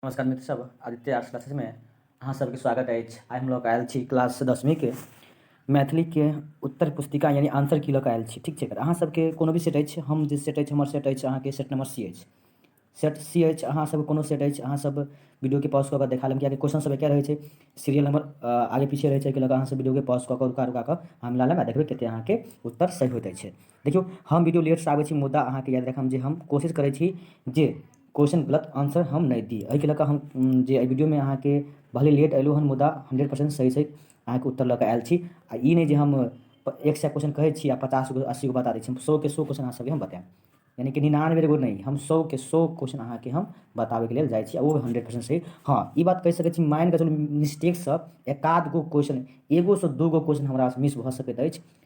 नमस्कार मित्र सब आदित्य आर्ट्स क्लासेस में अहाँ सबके स्वागत अछि आइ हम लऽ कऽ आयल छी क्लास दसमीके मैथिलीके उत्तर पुस्तिका यानी आंसर की लऽ कऽ आयल छी ठीक छै अगर अहाँ सबके कोनो भी सेट अछि हम जे सेट अछि हमर सेट अछि अहाँके सेट नंबर सी अछि सेट सी अछि अहाँ सब कोनो सेट अछि अहाँ सब वीडियोके पॉज कऽ कऽ देखा लेब कियाकि क्वेश्चन सब एके रहै छै सीरियल नंबर आगे पीछे रहै छै एहिके लऽ कऽ अहाँ सब वीडियोके पॉज कऽ कऽ रुका रुका कऽ हम ला लेब आ देखबै कतेक अहाँके उत्तर सही होइत अछि देखियौ हम वीडियो लेटसँ आबै छी मुदा अहाँके याद राखब जे हम कोशिश करै छी जे क्वेश्चन गलत आंसर हम नहि दी एहिके लऽ कऽ हम जे एहि वीडियोमे अहाँके भले लेट अयलहुँ हन मुदा हंड्रेड परसेंट सही सही अहाँके उत्तर लऽ कऽ आयल छी आ ई नहि जे हम एक सए क्वेश्चन कहै छी आ पचास गो अस्सी गो बता दै छी हम सएके सए क्वेश्चन अहाँ सबके हम बतायब यानी कि निन्यानवे गो नहि हम सएके सए क्वेश्चन अहाँके हम बताबैके लेल जाइ छी आ ओ हंड्रेड परसेंट सही हँ ई बात कहि सकै छी मानि कऽ चलू मिस्टेकसँ एकाध गो क्वेश्चन एगोसँ दूगो क्वेश्चन हमरासँ मिस भऽ सकैत अछि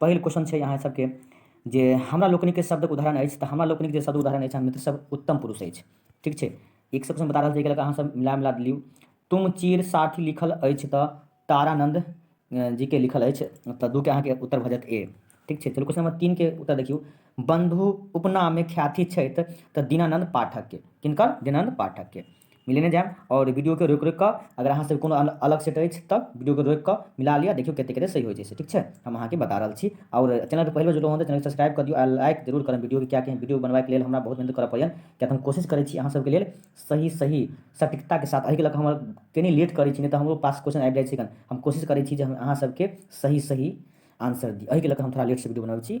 पहिल क्वेश्चन छै अहाँ सबके जे हमरा लोकनिक के शब्दक उदाहरण अछि तऽ हमरा लोकनिक जे शब्द उदाहरण अछि मित्र सब उत्तम पुरुष अछि ठीक छै एक सब क्वेश्चन बता रहल छै एकरा अहाँ सब मिला मिला दियौ तुम चीर साथी लिखल अछि तऽ तारानंद जी के लिखल अछि तऽ दू के अहाँ के उत्तर भऽ जायत ए ठीक छै चलू क्वेश्चन नंबर तीन के उत्तर देखियौ बंधु उपनाम में ख्याति छै तऽ दीनानंद पाठक के किनकर दीनानंद पाठक के मिलेने जायब आओर वीडियोके रोकि रोकि कऽ अगर अहाँसभ कोनो अलग सेट अछि तऽ वीडियोके रोकि कऽ मिला लिअ देखियौ कतेक कतेक सही होइ छै से ठीक छै हम अहाँके बता रहल छी आओर चैनलपर पहिलो जुड़लहुँ हँ तऽ चैनल सब्सक्राइब कऽ दियौ आ लाइक जरूर करब वीडियोके किएकि वीडियो बनबैके लेल हमरा बहुत मेहनत करऽ पड़ैए किएकि हम कोशिश करै छी अहाँसभके लेल सही सही सटीकताके साथ एहिके लऽ कऽ हमर कनी लेट करै छी नहि तऽ हमरो पास क्वेश्चन आबि जाइ छै हम कोशिश करै छी जे हम अहाँसभके सही सही आंसर दी एहिके लऽ कऽ हम थोड़ा लेटसँ वीडियो बनबै छी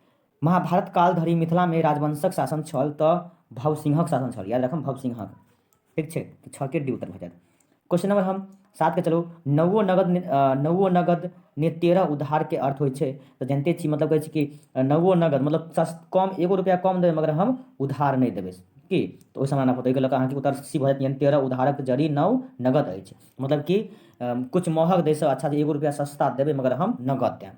महाभारत काल धरि मिथिलामे राजवंशक शासन छल तऽ भवसिंहक शासन छल याद रखब भवसिंहक ठीक छै तऽ छके डी उत्तर भऽ जायत क्वेश्चन नंबर हम सातके चलू नवो नगद ने- अ, नवो नगद ने तेरह उधारके अर्थ होइ छै तऽ जानिते छी मतलब कहै छै कि अ, नवो नगद मतलब सस- कम एगो रुपैआ कम देबै मगर हम उधार नहि देबै की तऽ ओहि समान आपको ताहिके लऽ कऽ अहाँके उत्तर सी भऽ जायत यानी तेरह उधारक जड़ी नव नगद अछि मतलब कि अम, किछु महग दैसँ अच्छा जे एगो रुपैआ सस्ता देबै मगर हम नगद देब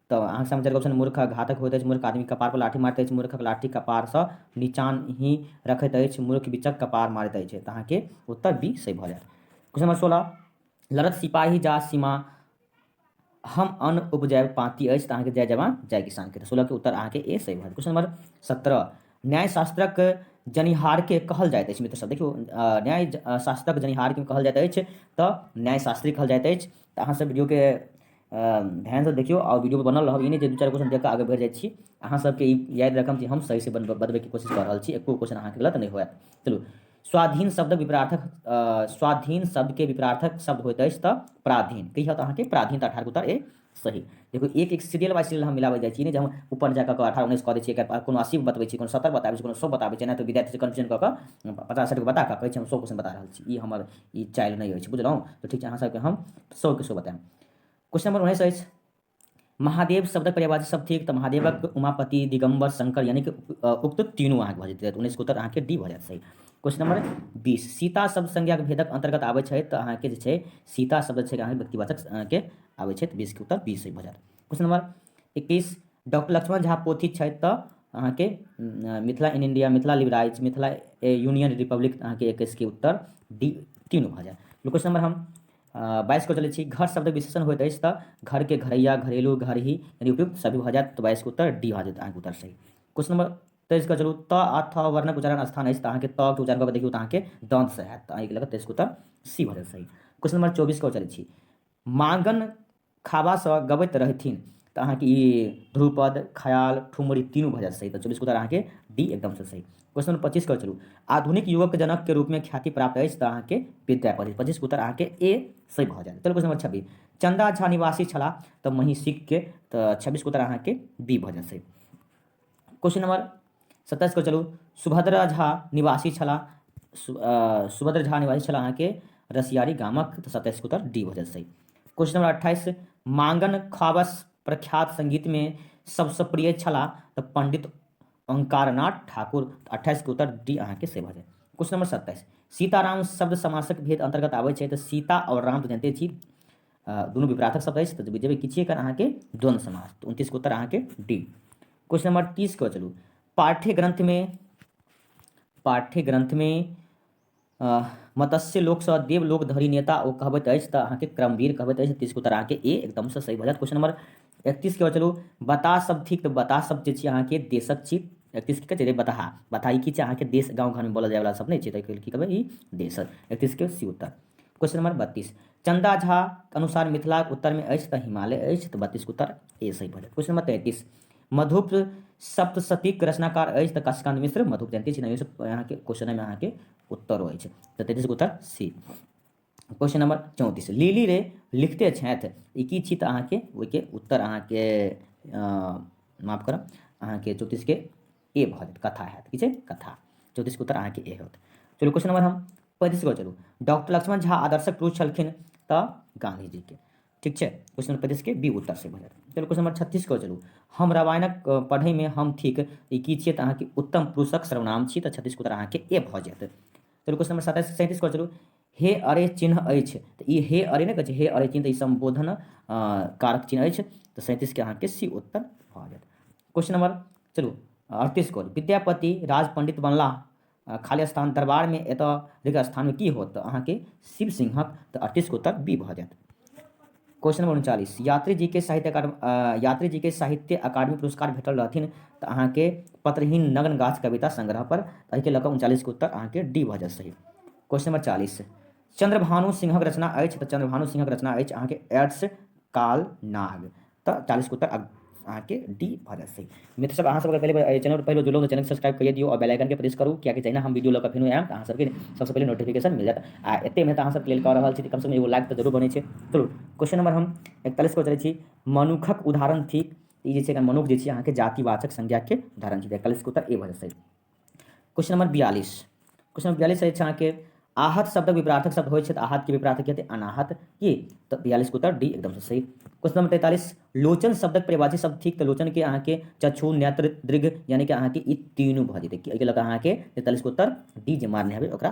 तऽ अहाँके सामने चारि ऑप्शन मूर्ख घातक होइत अछि मूर्ख आदमी कपार पर लाठी मारैत अछि मूर्खक लाठी कपारसँ निचान ही रखैत अछि मूर्ख बिचक कपार मारैत अछि तऽ अहाँके उत्तर बी सही भऽ जायत क्वेश्चन नंबर सोलह लड़त सिपाही जा सीमा हम अन्न उपजायब पाँति अछि तऽ अहाँके जय जवान जय किसानके तऽ सोलहके उत्तर अहाँके ए सही भऽ जायत क्वेश्चन नंबर सत्रह न्यायशास्त्रक जनिहारके कहल जाइत अछि मित्रसभ देखियौ न्याय शास्त्रक जनिहारके कहल जाइत अछि तऽ न्यायशास्त्री कहल जाइत अछि तऽ अहाँसभ वीडियोके ध्यानसँ देखियौ आओर वीडियोपर बनल रहब ई नहि जे दू चारि क्वेश्चन देखिकऽ आगे बढ़ि जाइ छी अहाँसभके ई याद राखब जे हम सहीसँ बनबै बतबैके कोशिश कऽ रहल छी एको क्वेश्चन अहाँके गलत नहि होयत चलू स्वाधीन शब्दक विपरार्थक स्वाधीन शब्दके विपरार्थक शब्द होइत अछि तऽ प्राधीन की होत अहाँके प्राधीन तऽ अठारह उत्तर ए सही देखो एक एक सीरियल बाय सीरियल हम मिलाबै जाइ छी ने जे हम ऊपर जाकऽ कऽ अठारह उन्नैस कऽ दै छियै एकर कोनो अस्सी बतबै छी कोनो सत्तर बताबै छी कोनो सौ बताबै छी नहि तऽ विद्यार्थी कन्फ्यूजन कऽ कऽ पचास साठिके बता कऽ कहै छै हम सौ क्वेश्चन बता रहल छी ई हमर ई चाइल्ड नहि अछि बुझलहुँ तऽ ठीक छै अहाँ सबके हम सौके सो बताएब क्वेश्चन नंबर उन्नैस अछि महादेव शब्दक पर्यावाची सब थिक तऽ महादेवक उमापति दिगम्बर शंकर यानी कि उक्त तीनू अहाँके भऽ जेतै उन्नैस उत्तर अहाँके डी भऽ जायत सही क्वेश्चन नंबर बीस सीता शब्द संज्ञाक भेदक अंतर्गत आबै छै तऽ अहाँके जे छै सीता शब्द छै अहाँके व्यक्तिवाचक के आबै छै तऽ बीसके उत्तर बीस भऽ जायत क्वेश्चन नंबर इक्कीस डॉक्टर लक्ष्मण झा पोथी छथि तऽ अहाँके Mithila in India Mithila लिबराइज Mithila a union republic अहाँके एकैसके उत्तर डी तीन भऽ जायत क्वेश्चन नंबर हम बाईस को चलै छी घर शब्द विशेषण होइत अछि तऽ घरके घरैया घरेलू घर ही यानी उपयुक्त सभी भऽ जायत तऽ बाईसके उत्तर डी भऽ जायत अहाँके उत्तर सही क्वेश्चन नंबर तेईसके चलू त आ थ वर्णक उच्चारण स्थान अछि तऽ अहाँके त के उच्चारण कऽ के देखियौ तऽ अहाँके दन्तसँ हैत तऽ एहिके लऽ कऽ तेईसके उत्तर सी भऽ जायत सही क्वेश्चन नंबर चौबीसके चलै छी मांगन खाबासँ गबैत रहथिन तऽ अहाँके ई ध्रुपद खयाल ठुमरी तीनू भऽ जायत सही तऽ चौबीस उत्तर अहाँके डी एकदमसँ सही क्वेश्चन नंबर पच्चीस करै चलू आधुनिक युवक जनकके रूपमे ख्याति प्राप्त अछि तऽ अहाँके विद्यापति पच्चीस उत्तर अहाँके ए सही भऽ जायत चलू क्वेश्चन नंबर छब्बीस चंदा झा निवासी छलाह तऽ महिषीके तऽ छब्बीस उत्तर अहाँके बी भऽ जायत सही क्वेश्चन नंबर सत्ताइस को चलू सुभद्रा झा निवासी छला सुभद्रा झा निवासी छला अहाँ के रसियारी गामक तो सत्ताइस को उत्तर डी हो जाए सही क्वेश्चन नंबर अट्ठाईस मांगन खाबस प्रख्यात संगीत में सबसे प्रिय छला तो पंडित ओंकारनाथ ठाकुर अट्ठाईस के उत्तर डी अहाँ के से भऽ जाए क्वेश्चन नंबर सत्ताईस सीताराम शब्द समासक भेद अंतर्गत आबै छै तऽ सीता और राम तऽ जानते छी दुनू विपराथक शब्द अछि तऽ जेबै किछे कर अहाँके द्वंद्व समास तऽ उनतीसके उत्तर अहाँके डी क्वेश्चन नंबर तीस के चलू पाठ्य ग्रंथ में पाठ्य ग्रंथ में मत्स्य लोक से देव लोक धरी नेता ओ कहबैत अछि तऽ अहाँके क्रमवीर कहबैत अछि तीसके उत्तर अहाँके ए एकदम से सही भऽ जायत क्वेश्चन नंबर एकतीस के चलू बतास शब्द थिक तऽ बतास शब्द जे छी अहाँके देशक छी एकतीस की कहै बताहा बताहा ई की छै अहाँके देश गाँव घरमे बोलल जायवला शब्द नहि छै तऽ की कहबै ई देशक एकतीसके सी उत्तर क्वेश्चन नंबर बत्तीस चन्दा झाके अनुसार मिथिलाके उत्तरमे अछि तऽ हिमालय अछि तऽ बत्तीसके उत्तर ए सही भऽ जायत क्वेश्चन नंबर तैंतीस मधुप सप्तशतीक रचनाकार अछि तऽ काशीकांत मिश्र मधुप जयंती छी नहि अहाँके क्वेश्चन एहिमे अहाँके उत्तर अछि तऽ तैंतीसके उत्तर सी क्वेश्चन नंबर चौंतीस लीली रे लिखते छथि ई की छी तऽ अहाँके ओहिके उत्तर अहाँके माफ करब अहाँके चौंतीसके ए भऽ जायत कथा हैत की छै कथा चौतीसके उत्तर अहाँके ए होत चलू क्वेश्चन नंबर हम पैंतीस पर चलू डॉक्टर लक्ष्मण झा आदर्शक पुरुष छलखिन तऽ गांधीजीके ठीक छै क्वेश्चन नंबर पैंतीसके बी उत्तर से भऽ जायत चलू क्वेश्चन नंबर छत्तीस पर चलू हम रामायणक अ, पढ़ैमे हम ठीक ई की छियै तऽ अहाँके उत्तम पुरुषक सर्वनाम छी तऽ छत्तीसके उत्तर अहाँके ए भऽ जायत चलू क्वेश्चन नंबर सत्ताइस सैंतीस पर चलू हे अरे चिन्ह अछि तऽ ई हे अरे नहि कहै छै हे अरे चिन्ह तऽ ई सम्बोधन कारक चिन्ह अछि तऽ सैंतीसके अहाँके सी उत्तर भऽ जायत क्वेश्चन नंबर चलू अड़तीस को विद्यापति राज पंडित बनलाह खाली स्थान दरबारमे एतऽ रिक्त स्थानमे की होत तऽ अहाँके शिव सिंहक तऽ अड़तीसके उत्तर बी भऽ जायत क्वेश्चन नंबर उनचालीस यात्री जी के साहित्य अकादमी यात्री जी के साहित्य अकादमी पुरस्कार भेटल रहथिन तऽ अहाँके पत्रहीन नग्न गाछ कविता संग्रह पर एहिके लऽ कऽ उनचालीसके उत्तर अहाँके डी भऽ जायत सही क्वेश्चन नंबर चालीस चंद्रभानु सिंहक रचना अछि तऽ चंद्रभानु सिंहक रचना अछि अहाँके एड्स काल नाग तऽ चालीसके उत्तर अहाँके डी भऽ जायत सही मित्र सब अहाँ सबके पहले चैनल पर पहले जुड़लहुँ तऽ चैनल सब्सक्राइब करिए दियौ आओर बेल आइकन के प्रेस करू कियाकि जहिना हम वीडियो लऽ कऽ फेनो आयब तऽ अहाँ सबके सबसँ पहिले नोटिफिकेशन मिल जायत आ एते मेहनत अहाँ सब लेल कऽ रहल छी तऽ कमसँ कम एगो लाइक तऽ जरूर बनै छै चलू क्वेश्चन नंबर हम एकतालीस पर चलै छी मनुखक उदाहरण थिक ई जे छै मनुख जे छै अहाँके जातिवाचक संज्ञाके उदाहरण छै एकतालीसके उत्तर ए भऽ जायत सही क्वेश्चन नंबर बयालीस क्वेश्चन नंबर बयालीस अछि अहाँके आहत शब्दक विपरार्थक शब्द होइ छथि आहत के विपरार्थक हेतै अनाहत की तऽ बयालीस के उत्तर डी एकदम से सही क्वेश्चन नंबर तैतालीस लोचन शब्दक परिभाषित शब्द ठीक तऽ लोचन के अहाँके चक्षु नेत्र दृघ यानी कि अहाँके ई तीनू भऽ जेतै एहिके लऽ कऽ अहाँके तैतालीस के उत्तर डी जे मारने हेबै ओकरा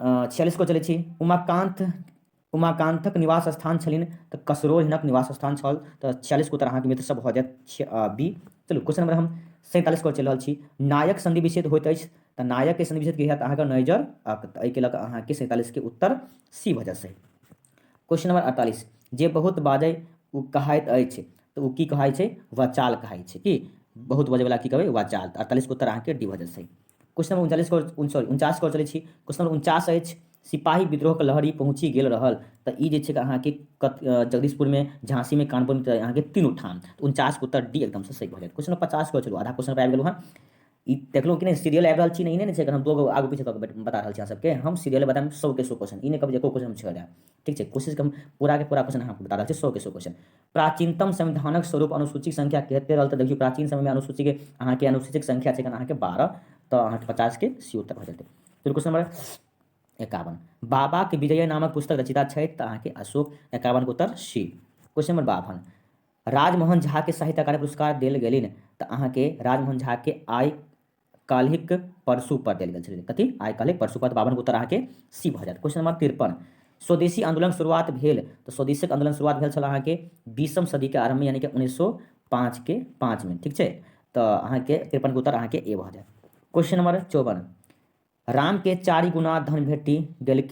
छियालिस को चलै छी उमाकान्त उमाकान्तक निवास स्थान छलिन तऽ कसरोल हिनक निवास स्थान छल तऽ छियालिस को उत्तर अहाँके मित्र सब भऽ जायत बी चलू क्वेश्चन नंबर हम सैंतालिस को चलि रहल छी नायक संधि विच्छेद होइत अछि तऽ नायकके संधि विच्छेद की हैत अहाँके नैजर एहिके लऽ कऽ अहाँके सैंतालिसके उत्तर सी भऽ जायत सही क्वेश्चन नंबर अड़तालीस जे बहुत बाजै ओ कहाइत अछि तऽ ओ की कहाइत छै वचाल कहाइत छै कि बहुत बजैवला की कहबै वचाल तऽ अड़तालीसके उत्तर अहाँके डी भऽ जेतै क्वेश्चन नंबर उनचालीस कॉल सॉरी उनचास कॉल चलै छी क्वेश्चन नंबर उनचास अछि सिपाही विद्रोहके लहरी पहुँचि गेल रहल तऽ ई जे छै अहाँके जगदीशपुरमे झाँसीमे कानपुरमे अहाँके तीनू ठाम उनचासके उत्तर डी एकदमसँ सही भऽ जायत क्वेश्चन नंबर पचास कॉल चलू आधा क्वेश्चन पर आबि गेलहुँ हँ ई देखलहुँ कि नहि सीरियल आबि रहल छी नहि ने छै हम दू आगू पीछे कऽ के बता रहल छी अहाँ सबके हम सीरियल बताएब सौके सौ क्वेश्चन ई नहि कहब जे एको क्वेश्चन हम छोड़ि देब ठीक छै कोशिशके हम पूराके पूरा क्वेश्चन अहाँ बता रहल छी सौके सौ क्वेश्चन प्राचीनतम संविधानक स्वरूप अनुसूची संख्या कहते रहल तऽ देखियौ प्राचीन समयमे अनुसूचीके अहाँके अनुसूचीक संख्या छै अहाँके बारह तऽ अहाँके पचासके सी उत्तर भऽ जेतै फेर क्वेश्चन नंबर एकावन बाबाके विजय नामक पुस्तक रचिता छथि तऽ अहाँके अशोक एकावनके उत्तर सी क्वेश्चन नंबर बावन राजमोहन झाकेँ साहित्य अकादमी पुरस्कार देल गेलनि तऽ अहाँके राजमोहन झाकेँ आइ काल्हिक परसू पर देल गेल छलनि कथी आइ काल्हिक परसू पर बावनके उत्तर अहाँके सी भऽ जायत क्वेश्चन नंबर तिरपन स्वदेशी आंदोलन शुरुआत भेल तऽ स्वदेशीक आंदोलन शुरुआत भेल छल अहाँके बीसम सदीके आरम्भमे यानि कि उन्नैस सए पाँचके पाँचमे ठीक छै तऽ अहाँके तिरपनके उत्तर अहाँके ए भऽ जायत क्वेश्चन नंबर चौवन रामके चारि गुना धन भेटि गेल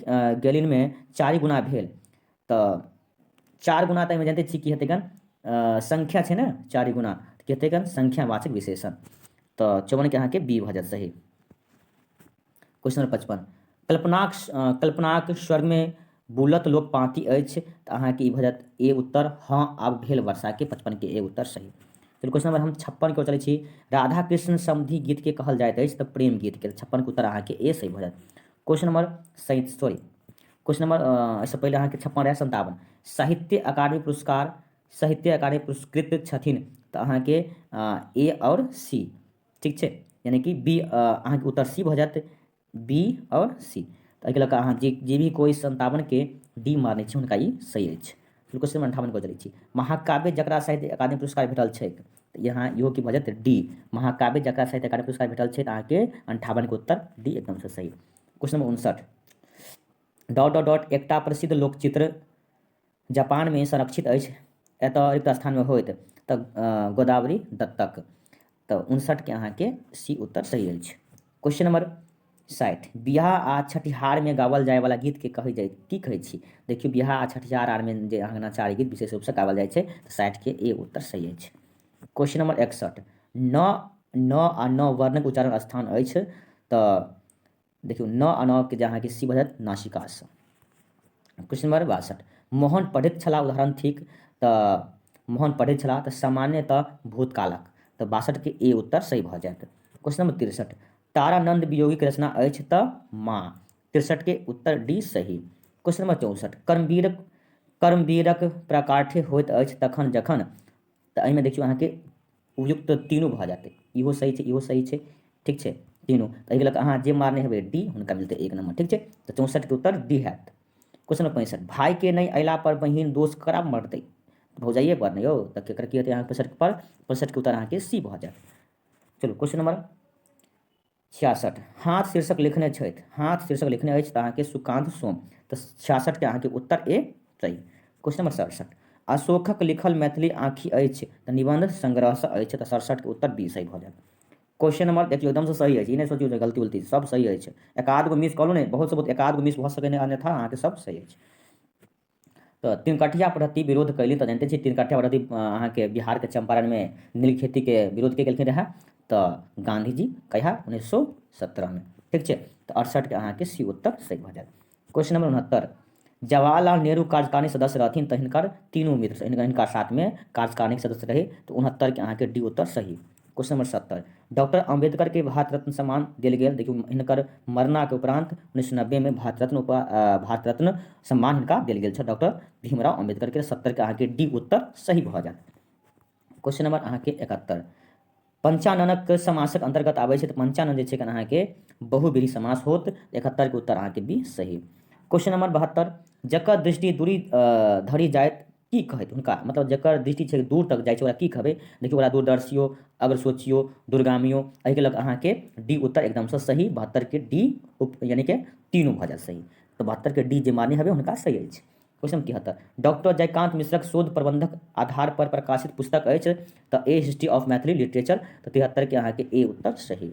गेलिनमे चारि गुना भेल तऽ चारि गुना तऽ एहिमे जानिते छी की हेतै गन संख्या छै ने चारि गुना की हेतै गन संख्यावाचक विशेषण तऽ चौवनके अहाँके बी भऽ जायत सही क्वेश्चन नंबर पचपन कल्पनाक कल्पनाक स्वर्गमे बुलत लोक पाँती अछि तऽ अहाँके ई भऽ जायत ए उत्तर हँ आब भेल वर्षाके पचपनके ए उत्तर सही फिर क्वेश्चन नंबर हम छप्पन के चलै छी राधा कृष्ण समधि गीत के कहल जाइत अछि तऽ प्रेम गीत के छप्पन के उत्तर अहाँके ए सही भऽ जायत क्वेश्चन नंबर सही सॉरी क्वेश्चन नंबर एहिसँ पहिले अहाँके छप्पन रहै सन्तावन साहित्य अकादमी पुरस्कार साहित्य अकादमी पुरस्कृत छथिन तऽ अहाँके ए आओर सी ठीक छै यानि कि बी अहाँके उत्तर सी भऽ जायत बी आओर सी तऽ एहिके लऽ कऽ अहाँ जे जे भी कोइ सन्तावनके डी मानै छी हुनका ई सही अछि फिर क्वेश्चन अन्ठावन कऽ चलै छी महाकाव्य जकरा साहित्य अकादमी पुरस्कार भेटल छैक तऽ यहाँ इहो की भऽ जायत डी महाकाव्य जकरा साहित्य अकादमी पुरस्कार भेटल छै तऽ अहाँके अन्ठावनके उत्तर डी एकदमसँ सही क्वेश्चन नंबर उनसठ डॉट डॉट डॉट एकटा प्रसिद्ध लोकचित्र जापानमे संरक्षित अछि एतऽ रिक्त स्थानमे होइत तऽ गोदावरी दत्तक तऽ उनसठके अहाँके सी उत्तर सही अछि क्वेश्चन नंबर साठि बियाह आ छठिहारमे गावल जायवला गीतके कहै जाइ की कहै छी देखियौ बियाह आ छठिहार आरमे जे अङ्गनाचारी गीत विशेष रूपसँ गावल जाइ छै तऽ साठिके ए उत्तर सही अछि क्वेश्चन नंबर एकसठ न न आ न वर्णक उच्चारण स्थान अछि तऽ देखियौ न अनावके जे अहाँके सी भऽ जायत नासिकासँ क्वेश्चन नंबर बासठ मोहन पढ़ैत छलाह उदाहरण थिक तऽ मोहन पढ़ैत छलाह तऽ सामान्यतः भूतकालक तऽ बासठके ए उत्तर सही भऽ जायत क्वेश्चन नंबर तिरसठ तारानंद वियोगीके रचना अछि तऽ माँ तिरसठके उत्तर डी सही क्वेश्चन नंबर चौंसठ कर्मवीरक कर्मवीरक प्राकाठ्य होइत अछि तखन जखन तऽ एहिमे देखियौ अहाँके उपयुक्त तीनू भऽ जायत इहो सही छै इहो सही छै ठीक छै तीनू तऽ एहिके लऽ कऽ अहाँ जे मारने हेबै डी हुनका मिलतै एक नंबर ठीक छै तऽ चौंसठिके उत्तर डी हैत क्वेश्चन नंबर पैंसठ भायके नहि अयलापर बहिन दोष करा मरतै भौजाइए पर ने यौ तऽ केकर की हेतै अहाँ पैंसठिपर पैंसठिके उत्तर अहाँके सी भऽ जायत चलू क्वेश्चन नंबर छियासठ हाथ शीर्षक लिखने छथि हाथ शीर्षक लिखने अछि तऽ अहाँके सुकान्त सोम तऽ छियासठके अहाँके उत्तर ए सही क्वेश्चन नंबर सड़सठ अशोकक लिखल मैथिली आँखि अछि तऽ निबंध संग्रहसँ अछि तऽ सड़सठके उत्तर बी सही भऽ जायत क्वेश्चन नंबर देखियौ एकदमसँ सही अछि ई नहि सोचियौ जे गलती उलती सब सही अछि एकाध गो मिस कहलहुँ ने बहुत से बहुत एकाध गो मिस भऽ सकैए अन्यथा अहाँके सब सही अछि तऽ तिनकठिया पद्धति विरोध कैली तऽ जानते छी तिनकठिया पद्धति अहाँके बिहारके चंपारणमे नील खेतीके विरोध के केलखिन रहए तऽ गांधीजी कहिया उन्नैस सौ सत्रहमे ठीक छै तऽ अड़सठके अहाँके सी उत्तर सही भऽ जायत क्वेश्चन नंबर उनहत्तर जवाहरलाल नेहरू कार्यकारिणी सदस्य रहथिन तऽ हिनकर तीनू मित्र हिनका साथमे कार्यकारिणी सदस्य रहै तऽ उनहत्तरके अहाँके डी उत्तर सही क्वेश्चन नंबर सत्तर डॉक्टर अम्बेडकर के भारत रत्न सम्मान दिल गया देखियो इनकर मरना के उपरांत उन्नीस नब्बे में भारत रत्न भारत रत्न सम्मान इनका दिल गया डॉक्टर भीमराव अम्बेडकर के सत्तर के अहाँ के डी उत्तर सही भऽ जायत क्वेश्चन नंबर अहाँ के इकहत्तर पंचाननक समासक अंतर्गत आबै छै तऽ पंचानन जे छै अहाँ के बहुबीरी समास होत इकहत्तर के उत्तर अहाँ के बी सही क्वेश्चन नंबर बहत्तर जकर दृष्टि दूरी धरी जायत की कहैत हुनका मतलब जकर दृष्टि छै दूर तक जाइ छै ओकरा की कहबै देखियौ ओकरा दूरदर्शियो अगर सोचियो दूरगामियो एहिके लऽ कऽ अहाँके डी उत्तर एकदमसँ सही बहत्तरके डी उप यानि कि तीनू भऽ जायत सही तऽ बहत्तरके डी जे मान्य हेबै हुनका सही अछि क्वेश्चन तिहत्तर डॉक्टर जयकान्त मिश्रक शोध प्रबंधक आधार पर प्रकाशित पुस्तक अछि तऽ a history of Maithili literature तऽ तिहत्तरके अहाँके ए उत्तर सही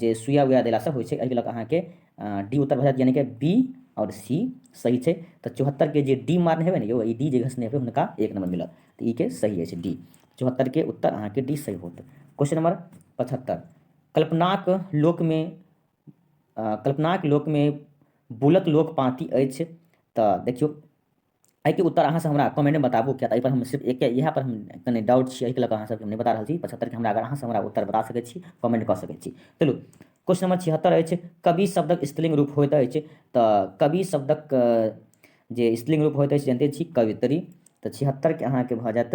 जे सुइया उया देलासँ होइ छै एहिके लऽ कऽ अहाँके डी उत्तर भऽ जायत यानि कि बी आओर सी सही छै तऽ चौहत्तरके जे डी मारने हेबै ने यौ ई डी जे घसने हेबै हुनका एक नंबर मिलत तऽ ई के सही अछि डी चौहत्तरके उत्तर अहाँके डी सही होत क्वेश्चन नंबर पचहत्तर कल्पनाक लोकमे कल्पनाक लोकमे बुलक लोक पाँति अछि तऽ देखियौ एहिके उत्तर अहाँसभ हमरा कमेन्टमे बताबू किएक तऽ एहिपर हम सिर्फ एके इएह पर हम कनि डाउट छी एहिके लऽ कऽ अहाँसभके हम नहि बता रहल छी पचहत्तरके हमरा अगर अहाँसभ हमरा उत्तर बता सकै छी कमेन्ट कऽ सकै छी चलू क्वेश्चन नंबर छिहत्तर अछि कवि शब्दक स्त्रीलिंग रूप होइत अछि तऽ कवि शब्दक जे स्त्रीलिंग रूप होइत अछि जनिते छी कवित्री तऽ छिहत्तरके अहाँके भऽ जायत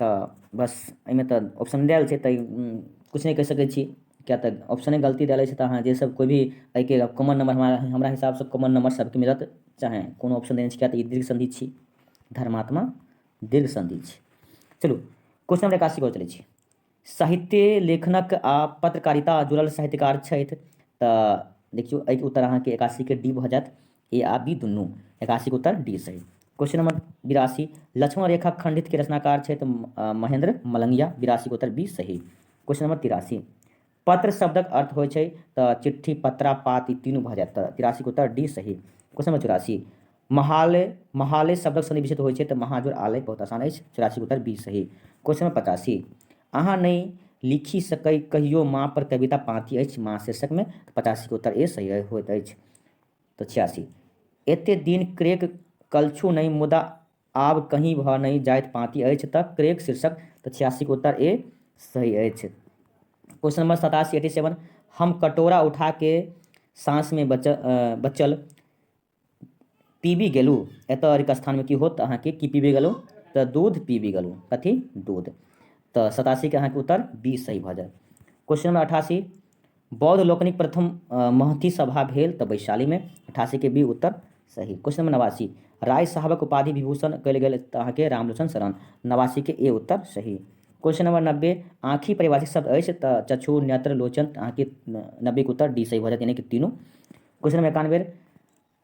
तऽ बस एहिमे तऽ ऑप्शन देल छै तऽ किछु नहि कहि सकै छी किएक तऽ ऑप्शने गलती देल अछि तऽ अहाँ जे सब कोइ भी एहिके कॉमन नम्बर हमरा हमरा हिसाबसँ कॉमन नम्बर सबके मिलत चाहे कोनो ऑप्शन देने छै किएक तऽ ई दीर्घ सन्धि छी धर्मात्मा दीर्घ सन्धि छी चलू क्वेश्चन नम्बर एकासी पर चलै छी साहित्य लेखनक आ पत्रकारिता जुड़ल साहित्यकार छथि तऽ देखियौ एहिके उत्तर अहाँके एकासीके डी भऽ जायत ए आ बी दुनू एकासीके उत्तर डी सही क्वेश्चन नंबर बिरासी लक्ष्मण रेखा खंडित के रचनाकार छथि महेंद्र मलंगिया बिरासी के उत्तर बी सही क्वेश्चन नंबर तिरासी पत्र शब्दक अर्थ होइ छै तऽ चिट्ठी पत्रा पात ई तीनू भऽ जायत तऽ तिरासीके उत्तर डी सही क्वेश्चन नंबर चौरासी महाले महाले शब्दक सन्धि विशेष होइ छै तऽ महाजोर आले बहुत आसान अछि चौरासी उत्तर बी सही क्वेश्चन नंबर पचासी अहाँ नहि लिखि सकै कहियो माँ पर कविता पाँति अछि माँ शीर्षकमे पचासीके उत्तर ए सही होइत अछि तऽ छियासी एते दिन क्रेक कलछु नहि मुदा आब कहीं भऽ नहि जाइत पाँति अछि तऽ क्रेक शीर्षक तऽ छियासीके उत्तर ए सही अछि क्वेश्चन नंबर सतासी एटी सेवन हम कटोरा उठा के साँसमे बचल बचल पीबी गेलू एतऽ अरिक स्थानमे की होत तऽ अहाँके की पीबी गेलू तऽ दूध पीबी गेलू कथी दूध तऽ सतासीके अहाँके उत्तर बी सही भऽ जायत क्वेश्चन नंबर अठासी बौद्ध लोकनिक प्रथम महती सभा भेल तऽ वैशालीमे अठासीके बी उत्तर सही क्वेश्चन नंबर नवासी राय साहबक उपाधि विभूषण कयल गेल तऽ अहाँके रामलोचन शरण नवासीके ए उत्तर सही क्वेश्चन नंबर नब्बे आँखि परिभाषित शब्द अछि तऽ चक्षु नेत्र लोचन अहाँके नब्बेके उत्तर डी सही भऽ जायत यानि कि तीनू क्वेश्चन नंबर एकानवे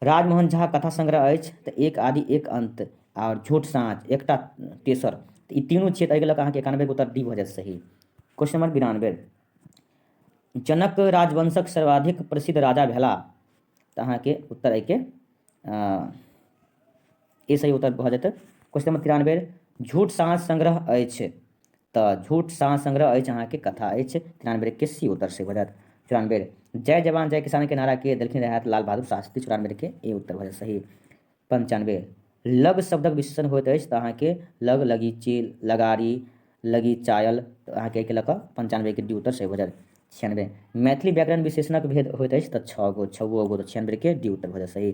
राजमोहन झा कथा संग्रह अछि तऽ एक आदि एक अंत आओर झूठ साँच एकटा तेसर तऽ ई तीनू छियै तऽ एहिके लऽ कऽ अहाँके एकानबेके उत्तर डी भऽ जायत सही क्वेश्चन नंबर बिरानबे जनक राजवंशक सर्वाधिक प्रसिद्ध राजा भेला तऽ अहाँके उत्तर एहिके ई सही उत्तर भऽ जेतै क्वेश्चन नंबर तिरानबे झूठ साँझ संग्रह अछि तऽ झूठ साँझ संग्रह अछि अहाँके कथा अछि तिरानबे के सी उत्तर से भऽ जायत चौरानबे जय जवान जय किसान के नारा के देलखिन रहत लाल बहादुर शास्त्री चौरानबे के ए उत्तर भऽ जायत सही पंचानबे लग शब्दक विशेषण होइत अछि तऽ अहाँके लग लगी चील लगारी लगी चायल तऽ अहाँके एहिके लऽ कऽ पंचानबेके डी उत्तर सही भऽ जायत छियानबे मैथिली व्याकरण विशेषणक भेद होइत अछि तऽ छओ गो छओ गो तऽ छियानबेके डी उत्तर भऽ जायत सही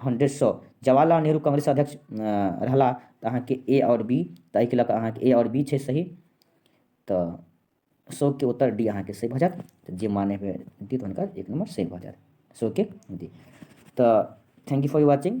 हंड्रेड सए जवाहरलाल नेहरू कांग्रेस अध्यक्ष रहला तऽ अहाँके ए आओर बी तऽ एहिके लऽ कऽ अहाँके ए आओर बी छै सही तऽ शोकके उत्तर डी अहाँके सही भऽ जायत जे माने हुए डी तऽ हुनकर एक नम्बर सही भऽ जायत शोकके डी तऽ थैंक यू फॉर वॉचिंग